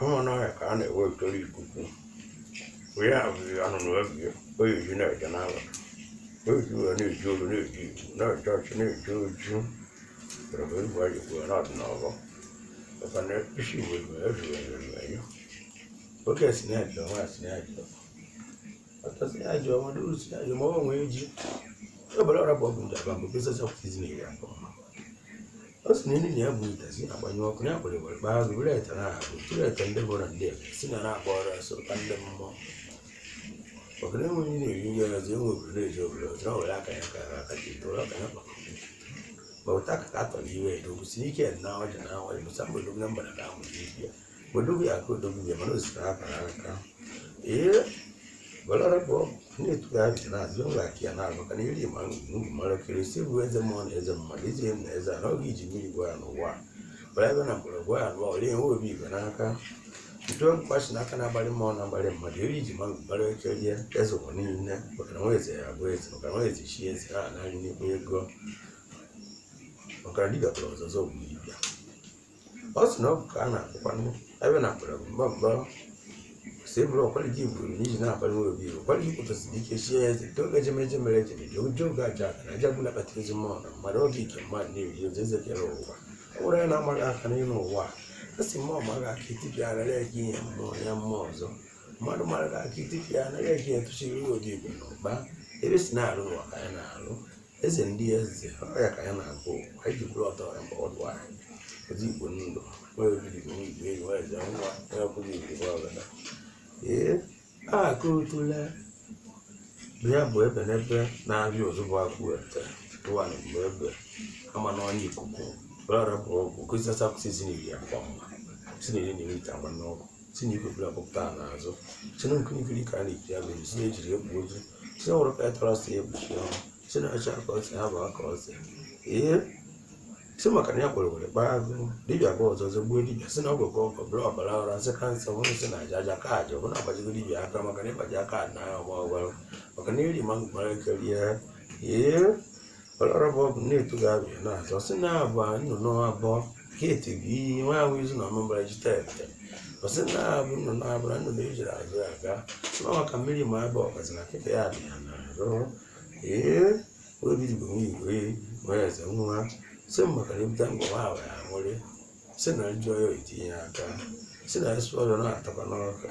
Ama na ọhịa ka a na-ewepụtara ikuku. Wee ya bụ anụnụ ebi o eji na-eje n'ala. O ji wee na-eji olu na-eji iwu na-eje ọchị na-eje oju. Were wee gwa ya kwuo na ọdịnala. Maka na isi igbo igbo ezughị ezughị enyo. Oke si na-eje ọnwa si na-eje. Ọtọ si na-eje ọnwa duru si na-eje ma ọ nwee ji. Ọ bụla ọra bụ ọgwụ ndị agba mgbe pesa sapụtizi na-ewe akọ ọma. ọ sị na elu na ya bụ itazi agbanyụ ọkụ ya gbere gbere kpaa azụ were ete na-ahụ tụrụ ete ndị bụ na ndị ebe si na na-agba ọrụ asọ ka ndị mmụọ maka na enweghị ihe na-eri nri ọzọ enwe obodo na-eji obodo ọzọ ọ were aka ya ka aka ji tụrụ aka ya kpakọ ma ụta ka ka atọ n'iwe ya dogosi n'ike na ọja na awa ya bụsa mgbe dogo na mgbada ka ahụ ji ya Wadugu ya ko dogu ya mano sita para ka. E balara bo ne tu ya na zo la ki na ma kan yiri ma ngu ma la kiri se bu eze mo ne eze ma le je ne eze na ogi ji mi gwa no wa. Ba ga na ko gwa no le wo bi ga na ka. Nto kwa shi na kana bali mo na bali ma yiri ji ma ba le ke je eze ko ni ne ba kan wo eze ya bo eze ba kan wo eze shi eze na na ni ko ye go. Ba kan di ga ko zo zo bi. ọ sị na ọ bụ ka a na-akpọkwanụ ebe na akpara mba mba si bụrụ ọkwara gị buru n'iji na-akpara nwa obi iru ọkwara gị pụtasịrị ike chie ya eze doge ejemeje mere ejem ji ụjọ oge aja aka na aja gbula kpata ezi mmụọ na mmadụ oge ike mmadụ na-eri ozi eze kere ụwa ọ bụrụ ya na-amaghị aka n'enu ụwa a a sị mmụọ mara aka itipịa arara ya gị ihe mmụọ ya mmụọ ọzọ mmadụ mara aka itipịa arara ya gị etụchiri obi igwe na ụwa ebe si na-arụ n'ụwa ka ya na-arụ eze ndị eze ọ ya ka ya na-agụ ụwa iji bụrụ ọtọ ya mgbe ọdụ anyị ozi igbo ndụ nwere obi dị nwe igwe eji nwere jee nwa onye ọbụla igwe nwa ọbụla ee akụ otule ya bụ ebe n'ebe na-abịa ozugbo akụ weta tụwa na mgbe ebe ama na onye ikuku were bụ ọgwụ kụzichasapụta isi na iri akwa mma si na iri na iri ite agba n'ọgwụ si na ikpekpere ọkpụkpụta a n'azụ si na nkiri nkiri ka a na-ekiri abụ si na ejiri egbu ozu si na nwere petara si ekpuchi ọnụ si na acha ka ose ha bụ aka ose ee si maka na ya kwere were kpaa agụ dibịa gwọọ ọzọ ọzọ gbuo dibịa si na ọ bụ ka ọkọ bụrụ ọbara ọra nsị ka nsị ọhụrụ si na aja aja ka aja ọbụna agbajigo dibịa aka maka na ịgbaji aka na ọgba ọgbara maka na iri ma mgbara ike rie ee Ọlọrọbọ bụ nnetu ga-abịa na-azọ sị na agba nnụnụ abụọ keti bụ iyi nwa ahụ izu na ọmụbara ji tete ọsị na abụ nnụnụ abụrụ nnụnụ ejiri azụ ya aga sịma maka mmiri ma ebe ọkazi na nkịta ya dị ya na-arụ ee obi dịbụ nwa igwe nwere eze nwa sị m maka na ebute ngwa nwa ahụ ya nwere sị na njọ ya etinye aka sị na esi ọrịa na-atakwa n'ọka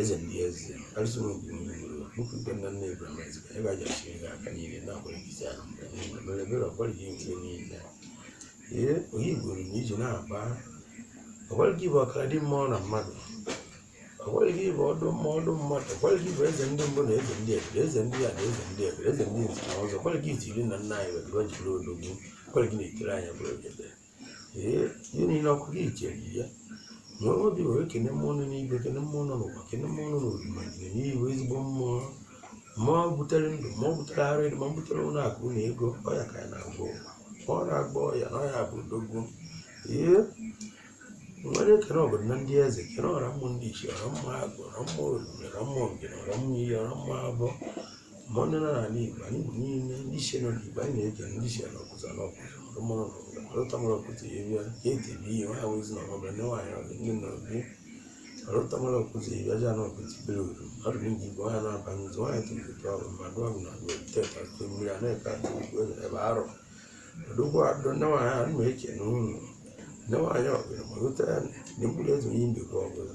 eze ndị eze arụsị nwe nke niile nwere okwu nke nna nna Abraham ezika ebe a jasi gị aka niile na-akwere gị isi ala mgbe niile mere ebere ọkwara gị nke niile ee onye igwuru na iji na-aba ọkwara gị bụ ọkara dị mmụọ na mmadụ ọkwara gị bụ ọdụ mmụọ ọdụ mmadụ ọkwara gị bụ eze ndị mbụ na eze ndị egede eze ndị a na eze ndị ebere eze ndị nze na ọzọ ọkwara gị zi iri na nna anyị wetara o jiri odogwu ọkwara gị na-etiri anyị bụrụ ogede ee ihe niile ọkụ gị jere ya nwee obi were kene mmụọ nọ n'igwe kene mmụọ nọ n'ụwa kene mmụọ nọ n'orima jiri nye iwe ezigbo mmụọ ma ọ butere ndụ ma ọ butere ara edo ma ọ butere ụlọ akụ na ego ọ ya ka ya na-agwọ ụwa ọ na-agba ọya na ọya bụ odogwu ee nwere ekene ọbụla na ndị eze kene ọra mmụọ ndị ichie ọra mmụọ agwụ ọra mmụọ oriri ọra mmụọ ngene ọra mmụọ iyi ọra mmụọ abụọ ma onye nọ n'ala Igbo anyị bụ niile ndị isi nọ n'Igbo anyị na-ege ndị isi nọ ọkụzọ na ọkụzọ ọmụrụ ọkụzọ ọlụtamụrụ ọkụzọ ya bịa ka eti bụ ihe nwa awụzi na ọbụla ndị nwaanyị ọdị ndị nọ bi ọlụtamụrụ ọkụzọ ya bịa ja na ọkụzọ bere oru ọdụ ndị Igbo nwaanyị na-aba n'ụzọ nwaanyị tụrụ tụọ ọrụ ma dụọ bụ na agwa teta tụọ mmiri a na-eke atụ Igbo ebe arọ ọdụgwọ adụ ndị nwaanyị a na-eche n'ụlọ ndị nwaanyị ọbụla ma lụta ya na mkpụrụ ezu ihe mbekwa ọbụla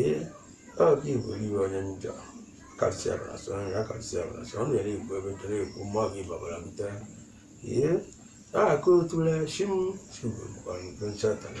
ee ọ gị bụ iwe onye njọ kasị abara sọ nri akasị abara sọ ọ na-ere igbo ebe tere egwu mma gị babara bute ee na-akụ otule shim shigbu mkpọrọ nke nsata na